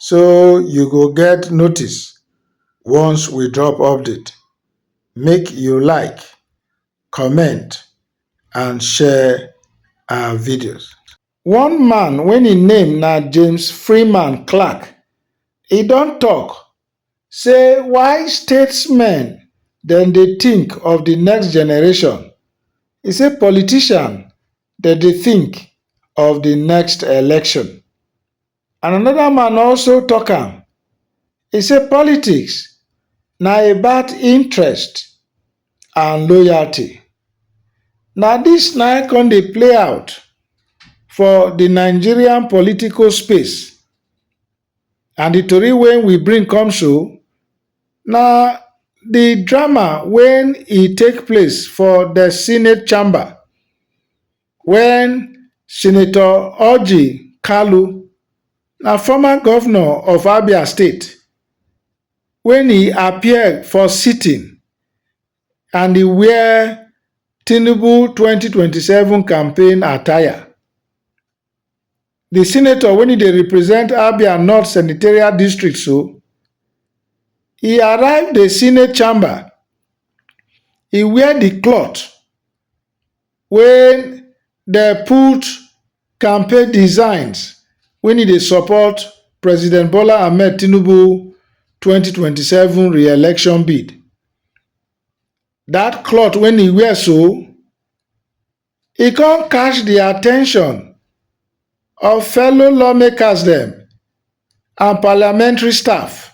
so you go get notice once we drop update make you like comment and share our videos. One man when im name na James Freeman Clark, e don talk say why statesmen dem dey think of the next generation, e say politician dem dey think of the next election. And another man also talk am, e say politics na about interest and loyalty. Na this na im come dey play out for the Nigerian political space and the tori wey we bring come so na the drama wey e take place for the senate chamber. Wen Senator Orji Kalu na former govnor of Abia state wen e appear for sitting and e wear Tinubu twenty twenty seven campaign attire. Di senator wen e dey represent Abia North Senatorial District so, e arrive di senate chamber e wear di cloth wey dem put campaign designs wey e dey support president bola ahmed tinubu twenty twenty seven re-election bid dat cloth wey e wear so e come catch di at ten tion of fellow lawmakers dem and parliamentary staff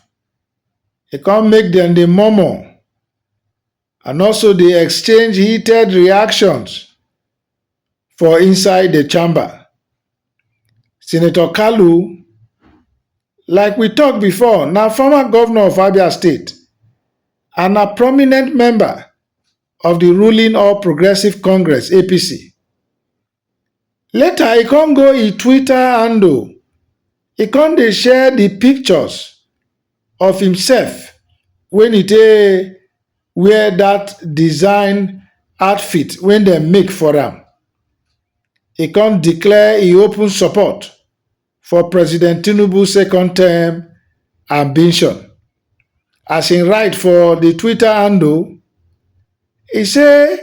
e come make dem dey murmur and also dey exchange heated reactions for inside the chamber. Senator Kalu, like we talk before, na former governor of Abia State and na prominent member of the ruling All Progressive Congress APC. later e come go im twitter handle e come dey share di pictures of imsef wen e take wear dat design outfit wey dem make for am e come declare e open support for president tinubu second term ambition as e write for di twitter handle e say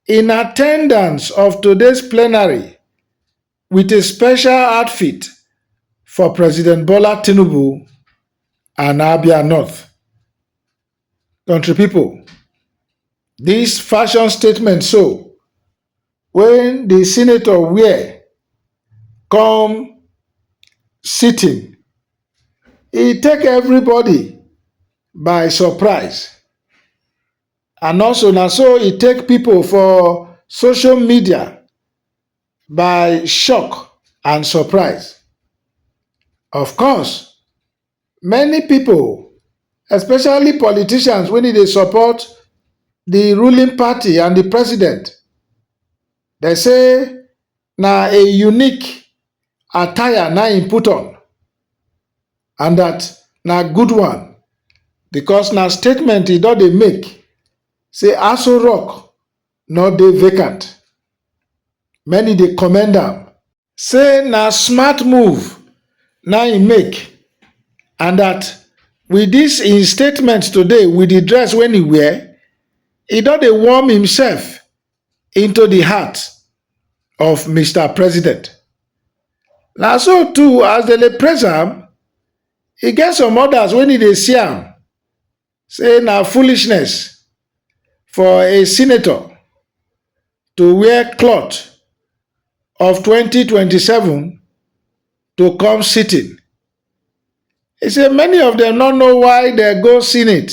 in at ten dance of today plenary wit a special outfit for president bola tinubu and abia north country pipo dis fashion statement so wen di senator wear come sitting e take everybody by surprise and also na so e take pipo for social media by shock and surprise. Of course, many pipo especially politicians wey dey support di ruling party and di president, dem say na a unique attire na im put on and dat na good one because na statement e don dey make say Aso Rock no dey vacant. Many dey commend am say na smart move na im make and dat with dis im statement today with di dress wey e wear, e don dey warm imsef into di heart of mister president na so too as dem dey praise am e get some odas wen e dey see am say na foolishness for a senator to wear cloth of twenty twenty seven to come sitting e say many of dem no know why dem go senate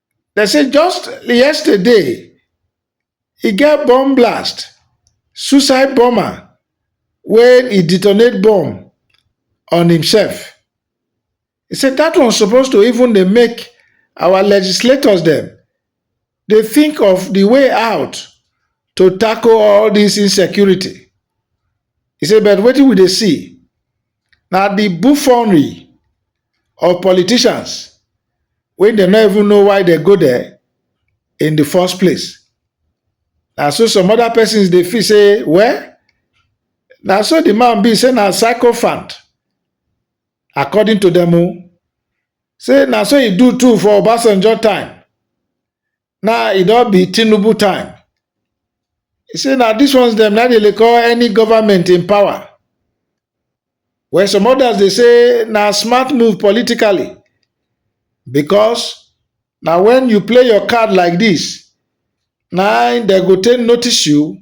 Dem say just yesterday, e get bomb blast, suicide bomber wey e detonate bomb on himself. He say that one suppose to even dey make our legislators dem dey think of the way out to tackle all this insecurity. He say but wetin we dey see na the buffonery of politicians wey dem no even know why dem go there in the first place. Na so some other persons dey feel say well na so the man be say na sycophant according to dem o. Say na so e do too for Obasanjo time Now e don be Tinubu time. He say na dis ones dem na dey call any government in power. Well, some others dey say na smart move politically because na when you play your card like this, na im dem go take notice you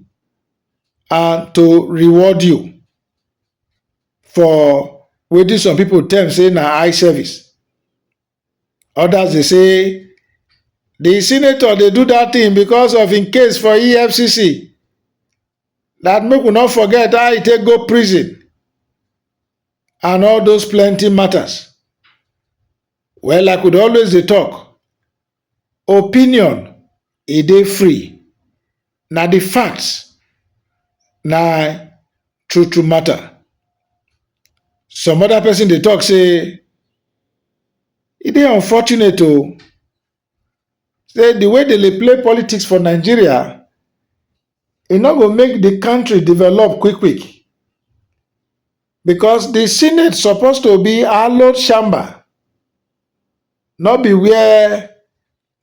and to reward you for wetin some people term say na eye service. Others dey say the senator dey do that thing because of im case for EFCC that make we no forget how e take go prison and all those plenty matters. Well, like we dey always dey talk, opinion e dey free Na di fact na true true matter. Some other person dey talk say e dey unfortunate oh, say di way dem dey play politics for Nigeria e no go make di country develop quick quick because di senate suppose to be hallowed chamber no be where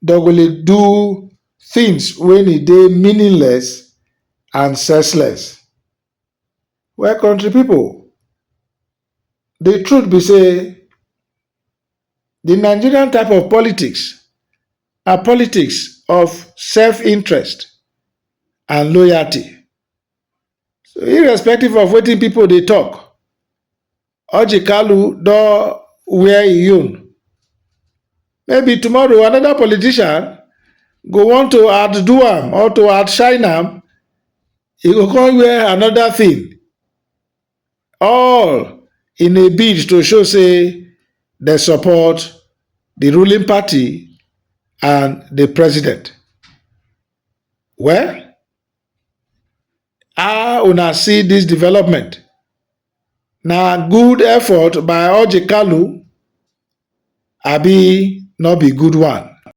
dem go dey do tins wey e dey meaningless and senseless. Well kontri pipu, di truth be sey di Nigerian type of politics na politics of self interest and loyalty. Irrespective of watin pipu dey tok, Orji Kalu don wear im own. Maybe tomorrow another politician go want to outdo am or to outshine am, e go come wear another thing. All in a bid to show say they support the ruling party and the president. Well, how una see this development? Na good effort by Orji Kalu abi no be good one?